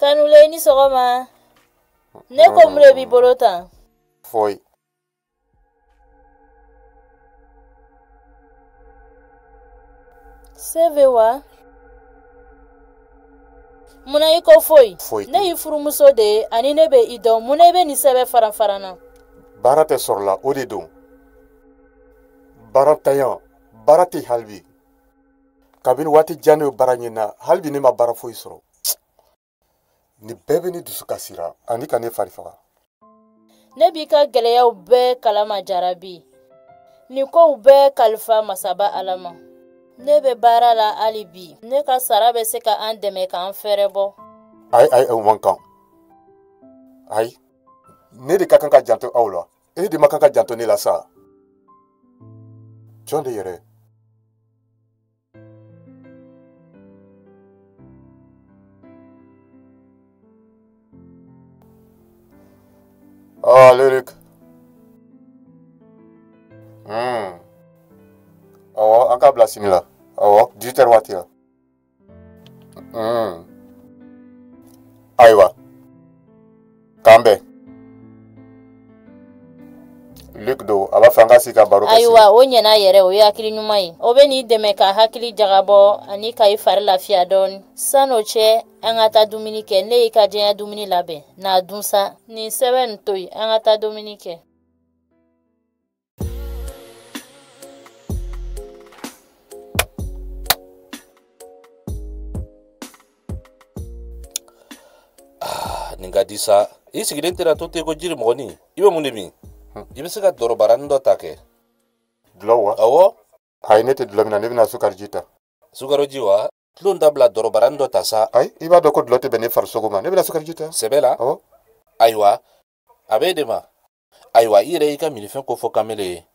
Kanulen i ni sɔgɔma ne ko mun de b'i bolo tan foyi sɛbɛ wa munna i ko foyi ne y'i furumuso de ye ani ne bɛ i dɔn munna i bɛ nin sɛbɛn faranfaran na baara tɛ sɔrɔla o de don baarantanya baara tɛ hali bi kabini waati jan ne bɛ baara ɲini na hali bi ne ma baara foyi sɔrɔ nin bɛɛ bɛ ne dusu kasira ani ka ne fari faga ne b'i ka gɛlɛyaw bɛɛ kalama jarabi nin kow bɛɛ kalifa masaba ala ma ne bɛ baara la hali bi ne ka sara bɛ se ka an dɛmɛ k'an fɛɛrɛ bɔ ayi ayi o man kan ayi ne de ka kan ka janto aw la e de ma kan ka janto ne la sa jɔn de yɛrɛ Ah, Lyric. Hmm. Awɔ, an k'a bila sini la. Awɔ, 18 heures waati la. Hmm. Ayiwa. kan bɛ Luc don a b'a fɛ an ka sigi ka baro kɛ ayiwa o ɲɛna yɛrɛ o ye hakili ɲuman ye o bɛn'i dɛmɛ ka hakili jagabɔ ani ka i fari lafiya dɔɔni san'o cɛ an ka taa dumuni kɛ ne y'i ka diyanye dumuni labɛn n'a dun sa nin sɛbɛn nin to yen an ka taa dumuni kɛ Ah, nin ka di sa i sigilen tɛna to ten ko jirimɔgɔnin i bɛ mun de min i bɛ se ka dɔrɔbaranin dɔ ta kɛ dulɔ wa awɔ ayi ne tɛ dulɔ min na ne bɛna sukariji ta sukariji wa tulon dabila dɔrɔbaranin dɔ ta sa ayi i b'a dɔn ko dulɔ tɛ bɛn ne farisogo ma ne bɛna sukariji ta sɛbɛ la awɔ ayiwa a bɛ e de ma ayiwa i yɛrɛ y'i ka minifɛn ko fɔ kamelen ye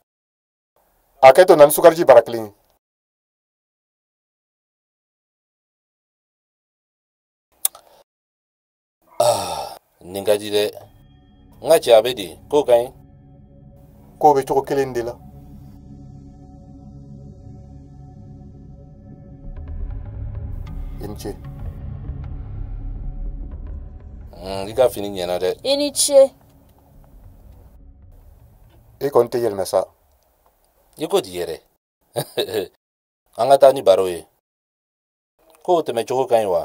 hakɛto na ni sukariji bara kelen ye ah, nin ka di dɛ n ka cɛ a bɛ di kow ka ɲi kow bɛ cogo kelen de la i ni ce i ka fini ɲɛna dɛ i ni ce i kɔni tɛ yɛlɛmɛ sa i ko di yɛrɛ an ka taa ni baro ye kow tɛmɛcogo ka ɲi wa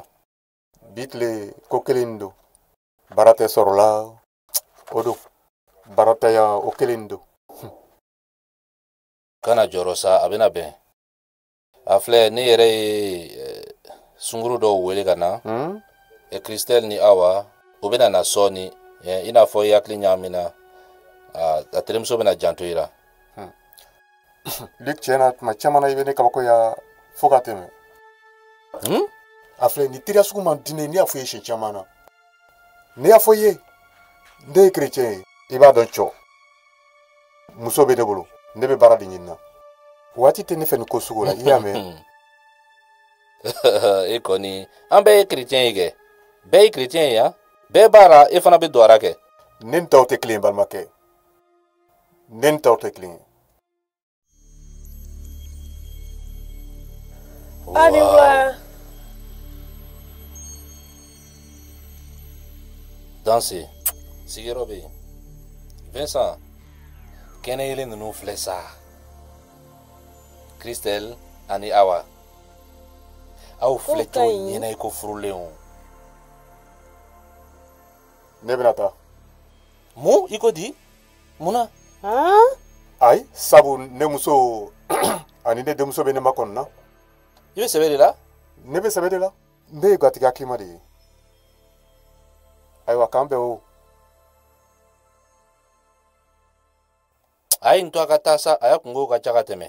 bi tile ko kelen nin don baara tɛ sɔrɔla o don baarantanya o kelen nin don kana jɔrɔ sa a bɛna bɛn a filɛ ne yɛrɛ ye eh, sunguru dɔw wele ka na hmm? eh, christelle ni awa o bɛna na sɔɔni eh, i n'a fɔ i hakili ɲaamina ah, a terimuso bɛna janto i la hmm. luc tiɲɛ na tuma caman na i bɛ ne kabakoya fo ka tɛmɛ hmm? a filɛ nin teriya sugu man di ne ne y'a fɔ i ye siɲɛ caman na ne y'a fɔ i ye ne ye kerecɛn ye i b'a dɔn cɔ muso bɛ ne bolo ne bɛ baara de ɲini na waati tɛ ne fɛ nin ko sugu la i y'a mɛn e kɔni an bɛɛ ye kerecɛn ye kɛ bɛɛ ye kerecɛn ye yan bɛɛ b'a la e fana bɛ don a ra kɛ ne ni tɔw tɛ kelen ye balimakɛ ne ni tɔw tɛ kelen ye Ayiwa. Danse, sigiyɔrɔ bɛ yen. Vincent, kɛnɛ yeelen ninnu filɛ sa. Christelle ani Awa. Aw filɛ cogo ɲɛna i ko furulenw. Ne bɛna taa. Mun i ko di? mun na ayi sabu ne muso ani ne denmuso bɛ ne makɔnɔna i bɛ sɛbɛ de la ne bɛ sɛbɛ de la ne ye gatigi hakilima de ye ayiwa k'an bɛn o a ye nin to a ka taa sa a ya kunko ka ca ka tɛmɛ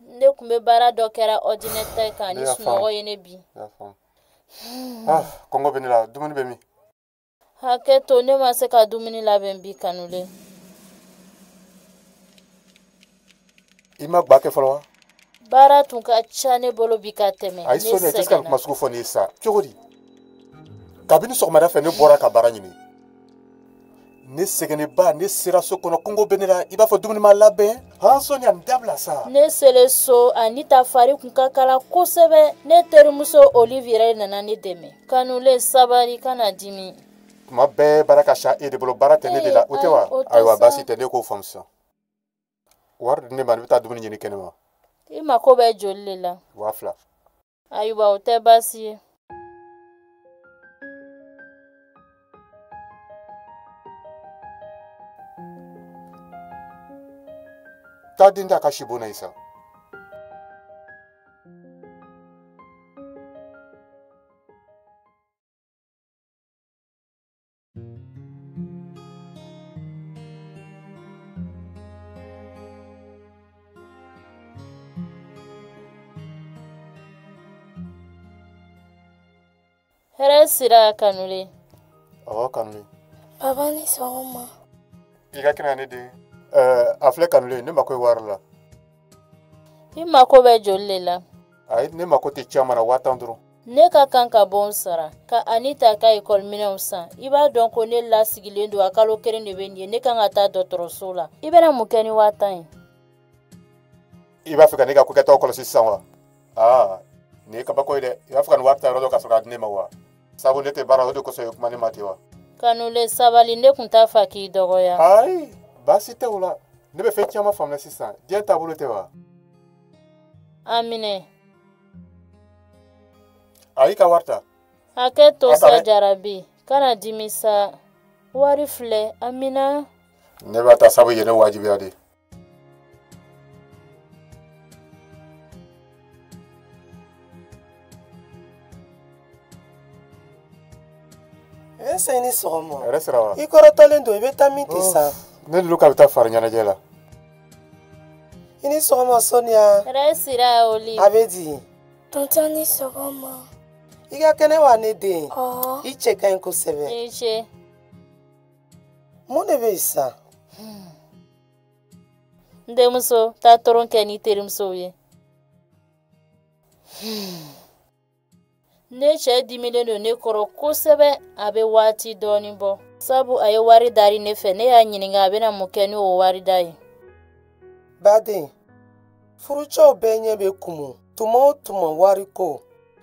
ne tun bɛ baara dɔ kɛra ɔridinatɛri kan ni sunɔgɔ ye ne bin ah, kɔngɔ bɛ ne la dumuni bɛ min hakɛ to ne ma se ka dumuni labɛn bi kanulen i ma gba kɛ fɔlɔ wa baara tun ka ca ne bolo bi ka tɛmɛ ayi sonia i tɛ se ka kuma sugu fɔ ne ye sa cogo di kabini sɔgɔmada fɛ ne bɔra ka baara ɲini ne sɛgɛnnenba ne sera so kɔnɔ kɔngɔ bɛ ne la i b'a fɔ dumuni ma labɛn han sonia nin dabila sa ne selen so anita fari kun ka kalan kosɛbɛ ne terimuso olive yɛrɛ nana ne dɛmɛ kanulen sabari kana dimi tuma bɛɛ baara ka ca e de bolo baara tɛ ne de la o tɛ wa ayiwa baasi tɛ ne k'o faamu sisan wari di ne ma ne bɛ taa dumuni ɲini kɛnɛ ma i mako bɛ joli de la waa fila ayiwa o tɛ baasi ye taa den da ka si bona ye sa hɛrɛ sira kanule ɔwɔ kanule baba ni sɔgɔma i ka kɛnɛ ne den ɛɛ a filɛ kanule ne mako ye wari la i mako bɛ joli le la ayi ne mako tɛ caman na waa tan dɔrɔn ne ka kan ka bon sara ka anita ka ekɔliminɛnw san i b'a dɔn ko ne lasigilen don a kalo kelen de bɛ nin ye ne kan ka taa dɔgɔtɔrɔso la i bɛna mun kɛ ni waa tan ye i b'a fɛ ka ne ka kokɛtaw kɔlɔsi sisan wa aa nin ye kabako ye dɛ i b'a fɛ ka nin wari ta yɔrɔ dɔn ka sɔrɔ k'a di ne ma wa sabu ne tɛ baara o de kosɔn ye kuma ne ma ten wa kanule sabali ne tun t'a fɛ k'i dɔgɔya ayi baasi tɛ o la ne bɛ fɛn caman faamuya sisan diɲɛ taabolo tɛ wa a minɛ ayi i ka wari ta hakɛ to sa jarabi kana dimi sa wari filɛ a minɛ ne b'a ta sabu i ye ne wajibiya de ese ni sɔgɔma i kɔrɔtɔlen don i bɛ taa min ten sa ne ni luka bɛ taa fari ɲɛnajɛ la i ni sɔgɔma sɔniya hɛrɛ sira oli a bɛ di tɔntɔn ni sɔgɔma i ka kɛnɛ wa ne den i cɛ ka ɲi kosɛbɛ i ni ce mun de bɛ yen sa hmm. n denmuso taa tulon kɛ n'i terimusow ye hmm. ne cɛ dimilen don ne kɔrɔ kosɛbɛ a bɛ waati dɔɔni bɔ sabu a ye wari dari ne fɛ ne y'a ɲininka a bɛna mun kɛ ni o wari da ye baden furucɛw bɛɛ ɲɛ bɛ kumu tuma o tuma wariko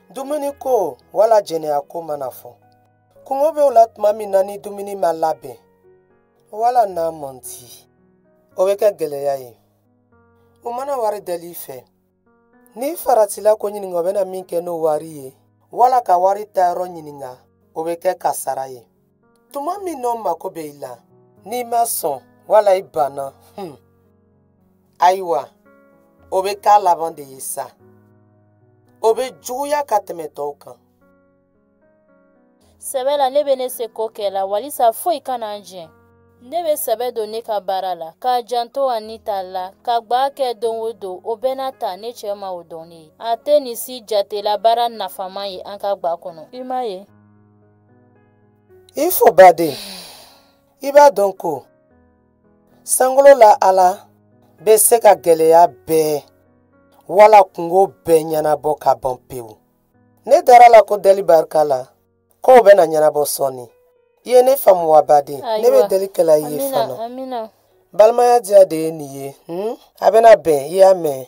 dumuniko wala jɛnɛyako mana fɔ kungo bɛ o la tuma min na ni dumuni ma labɛn wala n'a man di o bɛ kɛ gɛlɛya ye u mana wari dali fɛ n'i faratila k'o ɲininka o bɛna min kɛ n'o wari ye wala ka wari ta yɔrɔ ɲininka o bɛ kɛ kasara ye tuma min n'o mako bɛ i la n'i ma sɔn wala i banna hmm. ayiwa o bɛ k'a laban de ye sa o bɛ juguya ka tɛmɛ tɔw kan sɛbɛ la ne bɛ ne seko kɛ la walisa foyi kana an jɛn ne bɛ sɛbɛ don ne ka baara la ka janto anita la ka gba kɛ don o don o bɛɛ n'a ta ne cɛ ma o dɔn ne ye a tɛ nin si jatela baara nafama ye an ka gba kɔnɔ i m'a ye i fo baden i b'a dɔn ko sankolo la ala bɛ se ka gɛlɛya bɛɛ wala kungo bɛɛ ɲɛnabɔ ka ban pewu ne dara a la ko deli barika la kow bɛna ɲɛnabɔ sɔɔni i ye ne faamu wa baden ne bɛ deli kɛla i ye fana balimaya diya de ye nin ye hmm? a bɛna bɛn i y'a mɛn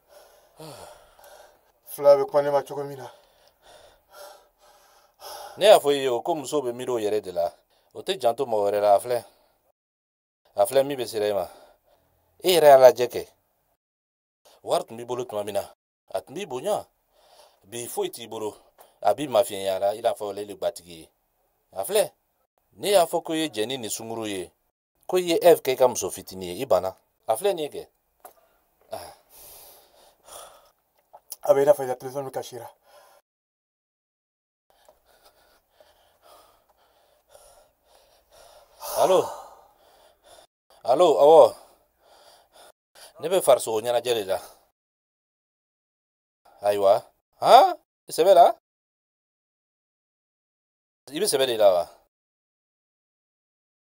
filɛ a bɛ kuma ne ma cogo min na ne y'a fɔ i ye o ko musow bɛ miiri o yɛrɛ de la o tɛ janto mɔgɔ wɛrɛ la a filɛ a filɛ min bɛ sera i ma i yɛrɛ y'a lajɛ kɛ wari tun b'i bolo tuma min na a tun b'i bonya bi foyi t'i bolo a b'i mafiɲɛyala i n'a fɔ ale le gbatigi ye a filɛ ne y'a fɔ ko i ye jɛ ni nin sunguru ye ko i ye eve kɛ i ka muso fitinin ye i banna a filɛ nin ye kɛ a bɛ i n'a fɔ i ka telefɔni kasira alo alo awɔ ne bɛ farisogo ɲɛnajɛ de la ayiwa han sɛbɛ la i bɛ sɛbɛ de la wa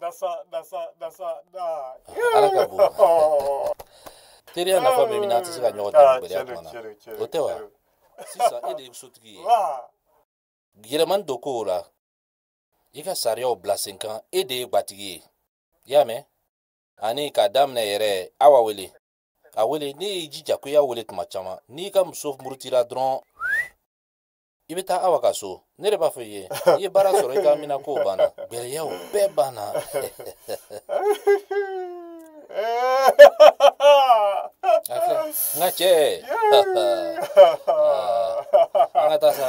na sa na sa na sa na ala ka bon teriya nafa bɛ mun na n'an tɛ se ka ɲɔgɔn dɛmɛ gɛlɛya tuma na o tɛ wa sisan e de ye sotigi ye yɛlɛmani don kow la i ka sariyaw bila sen kan e de ye gbatigi ye i y'a mɛn ani k'a daminɛ yɛrɛ awa wele a wele ne y'i jija ko i y'a wele tuma caman n'i ka muso murutira dɔrɔn i bɛ taa awa ka so ne de b'a fɔ i ye i ye baara sɔrɔ i ka mina kow banna gɛlɛyaw bɛɛ banna n ka cɛ an ka taa sa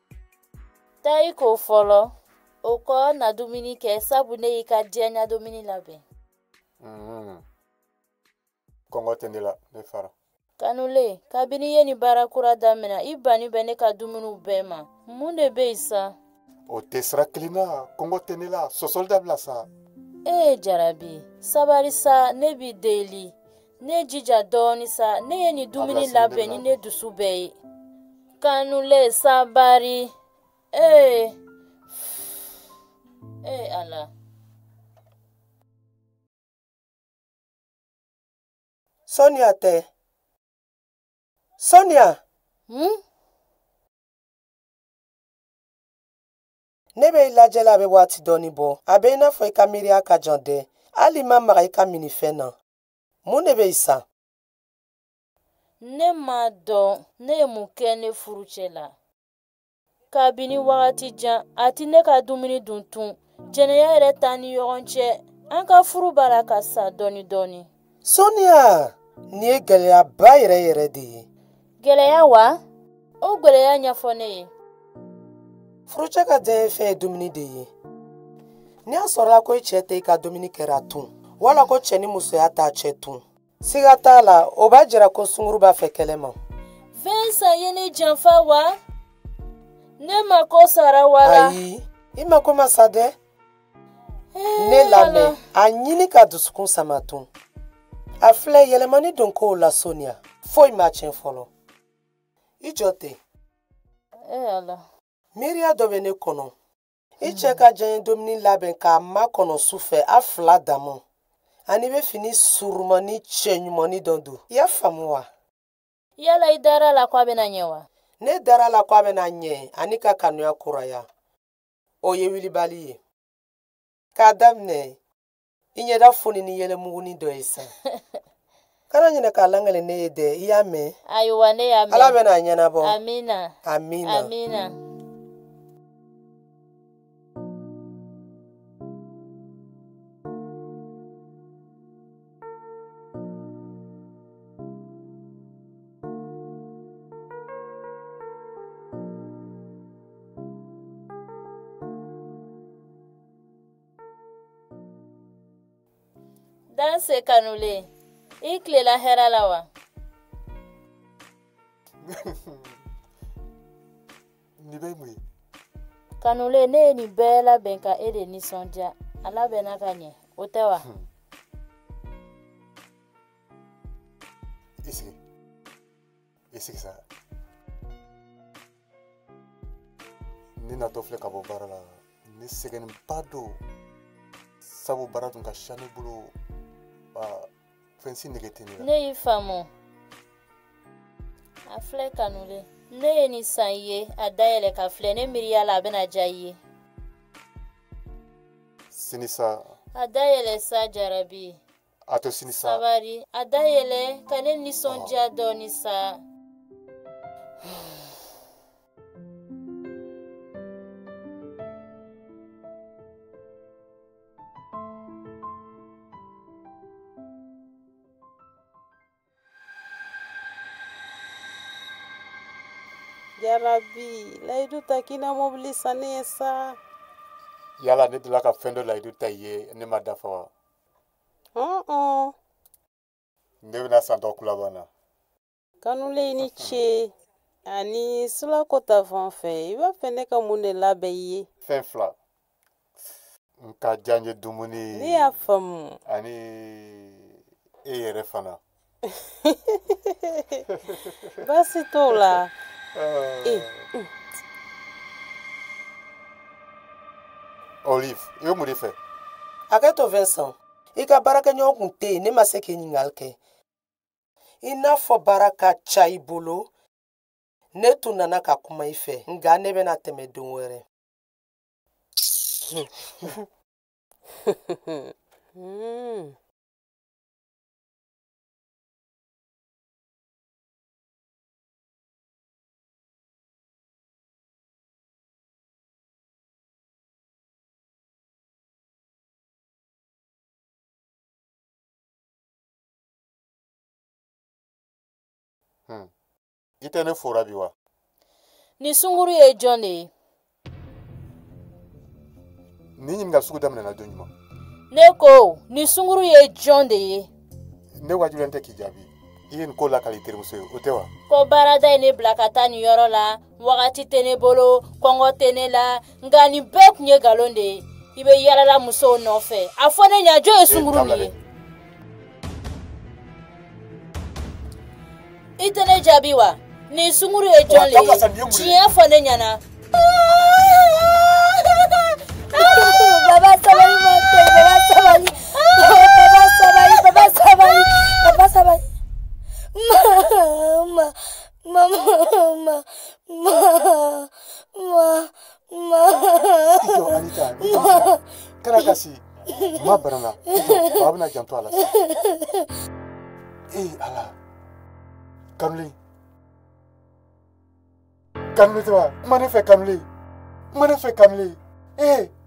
Taa i ko fɔlɔ, o kɔ na dumuni kɛ sabu ne y'i ka diyanye dumuni labɛn. Mm. Kɔngɔ tɛ ne la, ne fara. Kanulen, kabini i ye nin baara kura daminɛ, i bannin bɛ ne ka dumuniw bɛɛ ma. Mun de bɛ yen sa? O tɛ sira kelen na, kɔngɔ tɛ ne la, sɔsɔli dabila sa. Ee jarabi, sabari sa, ne b'i deli. ne jija dɔɔni sa ne ye nin dumuni labɛn ni ne dusu bɛɛ ye kanulen sabari ee ee ala sonia tɛ sonia hmm? ne bɛ i lajɛ la a bɛ waati dɔɔni bɔ a bɛ i n'a fɔ i ka miiriya ka jan dɛ hali i ma maga i ka minifɛn na mun de bɛ yen sa ne m'a dɔn ne ye mun kɛ ne furucɛ la kabini wagati jan a tɛ ne ka dumuni dun tun jɛnɛya yɛrɛ t'an ni ɲɔgɔn cɛ an ka furu b'a la ka sa dɔɔni dɔɔni sonia nin ye gɛlɛyaba yɛrɛ yɛrɛ de ye gɛlɛya wa o gɛlɛya ɲɛfɔ ne ye furucɛ ka diyanye fɛn ye dumuni de ye ni a sɔrɔla ko i cɛ tɛ i ka dumuni kɛra tun wala ko cɛ ni musoya t'a cɛ tun siga t'a la o b'a jira ko sunguru b'a fɛ kɛnɛma vincent ye ne janfa wa ne mako sara walayi i mako ma sa dɛ ne lamɛn a ɲini k'a dusukun sama tun a filɛ yɛlɛmani don kow la sonia foyi ma tiɲɛ fɔlɔ i jɔ ten miiriya dɔ bɛ ne kɔnɔ i cɛ ka diyanye dumuni labɛn k'a makɔnɔ su fɛ a fila dama ani i bɛ fini surumani cɛɲumanni dɔ don i y'a faamu wa yala i dara la ko a bɛna ɲɛ wa ne dara la ko a bɛna ɲɛ ani ka kanuya kuraya o ye wilibali ye k'a daminɛ i ɲɛda foni ni yɛlɛmuguni dɔ ye sa kana ɲinɛ k'a lakali ne ye dɛ i y'a mɛn ayiwa ne y'a mɛn ala bɛna a ɲɛnabɔ amina amina amina danse kanulen i tilela hɛrɛ la wa nin bɛɛ ye mun ye kanulen ne ye nin bɛɛ labɛn ka e de nisɔndiya a labɛnna ka ɲɛ o tɛ wa hmm. i sigi i sigi sa ne natɔ filɛ ka bɔ baara la ne sɛgɛnnenba don sabu baara tun ka ca ne bolo fɛn si nege tɛ ne la ne y'i faamu a filɛ kanulen ne ye nin san i ye a dayɛlɛ k'a filɛ ne miiriya la a bɛna diya i ye sini sa a dayɛlɛ sa jarabi a to sini sa sabari a dayɛlɛ ka ne nisɔndiya dɔɔni sa jarabi layidu ta k'i na mobili san ne ye sa yala ne delila ka fɛn dɔ layidu ta i ye ne m'a dafa wa ne bɛn'a san dɔgɔkun laban na kanulen i ni ce ani wula ta fan fɛ i b'a fɛ ne ka mun de labɛn i ye fɛn fila n ka diyanye dumuni ne y'a faamu ani e yɛrɛ fana baasi t'o la ah. eh, mm. olive i bɛ mun de fɛ hakɛ to vincent i ka baarakɛɲɔgɔn tun tɛ yen ne ma se k'i ɲininkali kɛ i n'a fɔ baara ka ca i bolo ne tun nana ka kuma i fɛ nka ne bɛna tɛmɛ don wɛrɛ Hmm. i tɛ ne fora bi wa nin sunguru ye jɔn de ye nin ɲininka sugu daminɛna don jumɛn ne ko nin sunguru ye jɔn de ye ne wajibiyalen tɛ k'i jaabi i ye nin ko lakali terimuso ye o tɛ wa ko baarada ye ne bila ka taa nin yɔrɔ la wagati tɛ ne bolo kɔngɔ tɛ ne la nka nin bɛɛ tun ye nkalon de ye i bɛ yalala musow nɔfɛ a fɔ ne ɲa jɔn ye sunguru de ye i tɛ ne jaabi wa nin sunguru ye jɔn de ye tiɲɛ fɔ ne ɲɛna baba sabali ma tɛ baba sabali baba sabali baba sabali baba sabali ma ma kana kasi ma barana ba bɛna janto a la sisan ee ala kanuli kanuli tɛ wa kuma ne fɛ kanuli kuma ne fɛ kanuli ee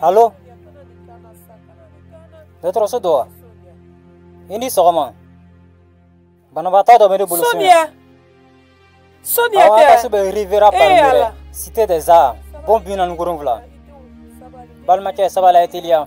alo dɔgɔtɔrɔso don wa i ni sɔgɔma banabaatɔ dɔ bɛ ne bolo sonya sonya tɛ awɔ so bɛ riviera palmeraie cité des arts bon bi naani wolonwula balimakɛ sabali a ye teliya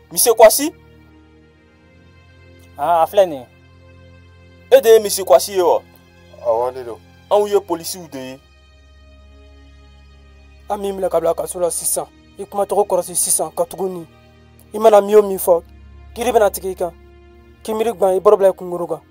Monsieur Kwasi Ah, a filɛ nin ye. E de ye Monsieur Kwasi ye wa? Awɔ, ne don. Anw ye polisiw de ye. An b'i minɛ ka bila kaso la sisan. I kuma cogo kɔrɔsi sisan katuguni i mana min o min fɔ, kiri bɛna tigɛ i kan. Kunbiri gban i boro bila i kunkoro kan.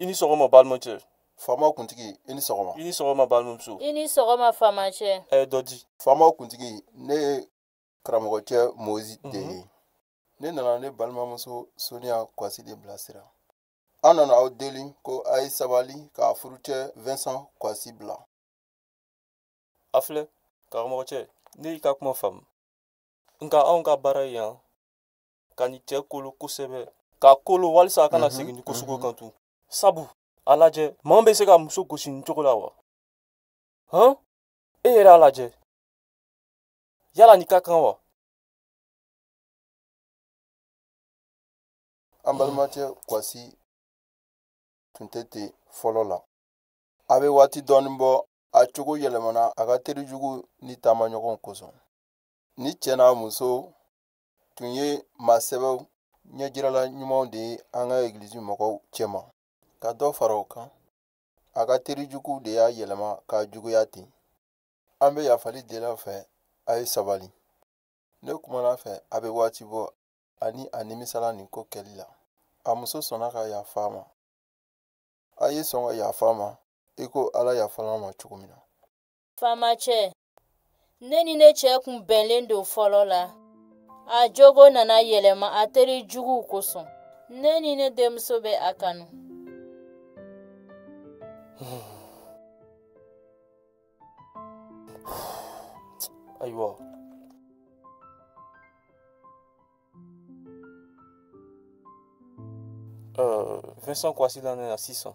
i ni sɔgɔma balimacɛ faama kuntigi i ni sɔgɔma i ni sɔgɔma balimamuso i ni sɔgɔma faamacɛ e don di faama kuntigi ne ye karamɔgɔcɛ moyizi de ye mhm. ne nana ne balimamuso soniya kwasi de bilasira an nana aw deli ko a ye sabali k'a furucɛ vincent kwasi bila a filɛ karamɔgɔcɛ ne y'i ka kuma faamu nka anw ka baara yan ka nin cɛ kolo kosɛbɛ k'a kolo walisa a kana mhm, segin nin ko sugu mhm. kan tugun sabu a lajɛ maa bɛ se ka muso gosi nin cogo la wa hɔn e yɛrɛ a lajɛ yala nin ka kan wa an balimacɛ kwasi tun tɛ ten fɔlɔ la a bɛ waati dɔɔnin bɔ a cogo yɛlɛmana a ka teri jugu ni taamaɲɔgɔn kosɔn nin cɛ n'a muso tun ye maa sɛbɛw ɲɛjirala ɲumanw de ye an ka egilizi mɔgɔw cɛma ka dɔ fara o kan a ka teri juguw de y'a yɛlɛma k'a juguya ten an bɛ yafali deli aw fɛ a ye sabali ne kumana a fɛ a bɛ waati bɔ ani a nimisala nin ko kɛli la a muso sɔnna ka yafa a ma a ye sɔn ka yafa a ma i ko ala yafala an ma cogo min na faamacɛ ne ni ne cɛ tun bɛnlen don fɔlɔ la a jogo nana yɛlɛma a teri juguw kosɔn ne ni ne denmuso bɛ a kanu ayiwa uh, Vincent Kwasi labila sisan.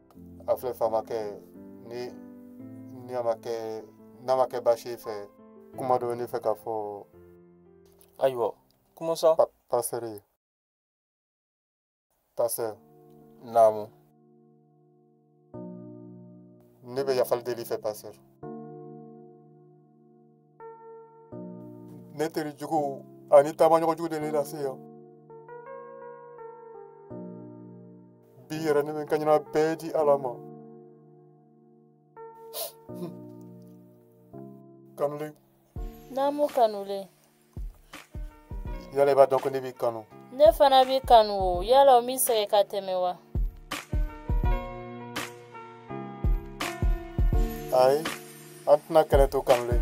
a filɛ faamakɛ ni ni a ma kɛ n'a ma kɛ baasi ye i fɛ kuma dɔ bɛ ne fɛ ka fɔ ayiwa kuma sa pasitɛri pasitɛri naamu ne bɛ yafali deli i fɛ pasitɛri ne teri jugu ani taamaɲɔgɔn jugu de ne lase yan bi yɛrɛ ne bɛ n kaɲina bɛɛ di ala ma kanulen naamu kanulen yala i b'a dɔn ko ne b'i kanu ne fana b'i kanu o yala o min sɛgɛ ka tɛmɛ wa ayi an tɛna kɛlɛ to kanulen